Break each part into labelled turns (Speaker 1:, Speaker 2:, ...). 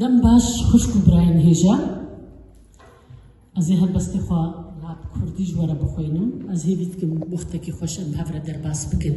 Speaker 1: Dem baş xuşk û birayên hêja. Ez ê helbestê xwe la bi kurdî ji we re bixwînim. Ez hêvî dikim wextekî xweş em bi hev re derbas bikin.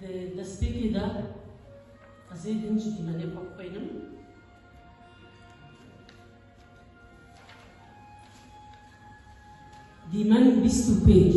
Speaker 1: Di destpêkê de ez ê din jî dîmenê xwe bixwînim. Dîmen bîst û pênc.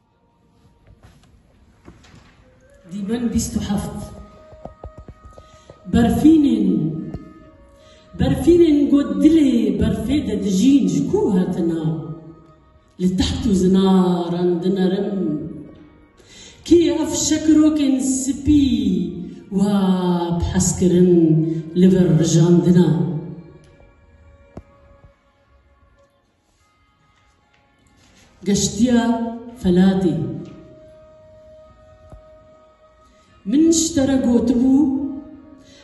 Speaker 1: Dîmen bîst û heft berfînên berfînên got dilê berfê de dijîn ji ku hatina li teht û zinaran dinerim kê ev şekirokên spî wa bi hez kirin li vir rijandina Geştiya felatê. Min ji te re gotibû,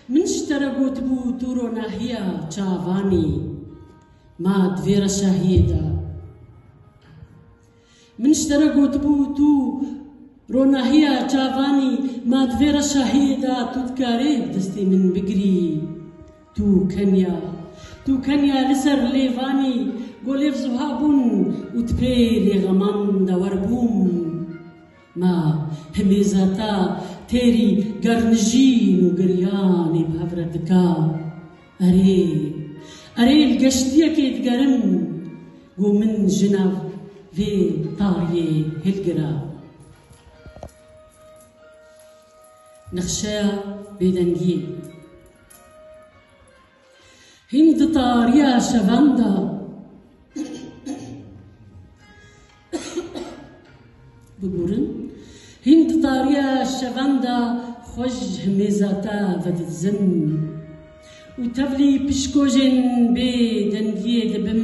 Speaker 1: min ji te re gotibû tu ronahiya çavan î, ma di vê re şahiyê de. Min ji te re gotibû tu ronahiya çavanî ma di vê re şahiyê de tu dikarî bi destê min bigirî. Tu keniya. Tu keniya li ser lêvanî ku lêv zuha bûn û ti pê lêxeman dewer bûm. Ma himêzeta têrî gernijîn û giryanê bi hev re dika. Erê, erê li geştiyekê digerim ku min ji nav vê tariyê hilgira. Nexşeya bêdengiyê. Hîn di tariya şevan de bigurin, hîn di tariya şevan de xwe ji himêza te vedidizin û tevlî pişkojên bê dengiyê dibim.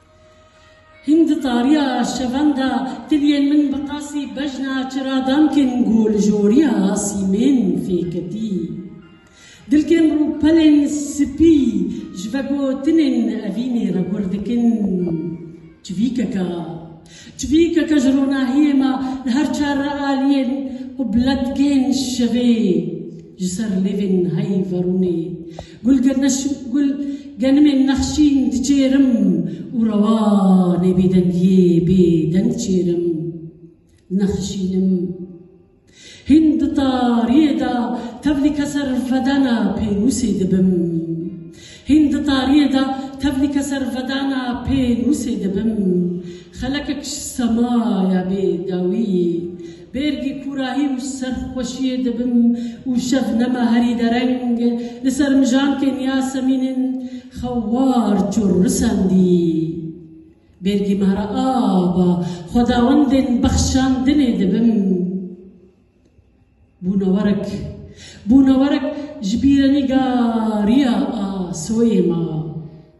Speaker 1: Hîn di tariya şevenda tiliyên min bi qasî bejna çiradankên ku li joriya sîmên fêketî dilkên rûpelên sipî ji vegotinên evînê re gur dikin çivîkeke çivîkeke ji ronahiyê me li her çar realiyên û biletkên şevê ji ser lêvên heyverûnê Gul gul genimên nexşîn diçêrim û rewanê bêdengiyê bê deng çêrim. Nexşînim. Hîn di tariyê de tevlî ke ser vedena pênûsê dibim. Hîn di tariyê de tevlî ke ser vedena pênûsê dibim. Xelekek ji semaya bê dawiyê. Bêrgî kûrahî û serxweşiyê dibim û Şebnema herî dereng li ser mijankên Yasemînên xwe war çûr risandî. Bêrgî mehra ava xwedawendên bexşandinê dibim. Bûnewerek, bûnewerek ji bîrenîgariya Asoyê ma.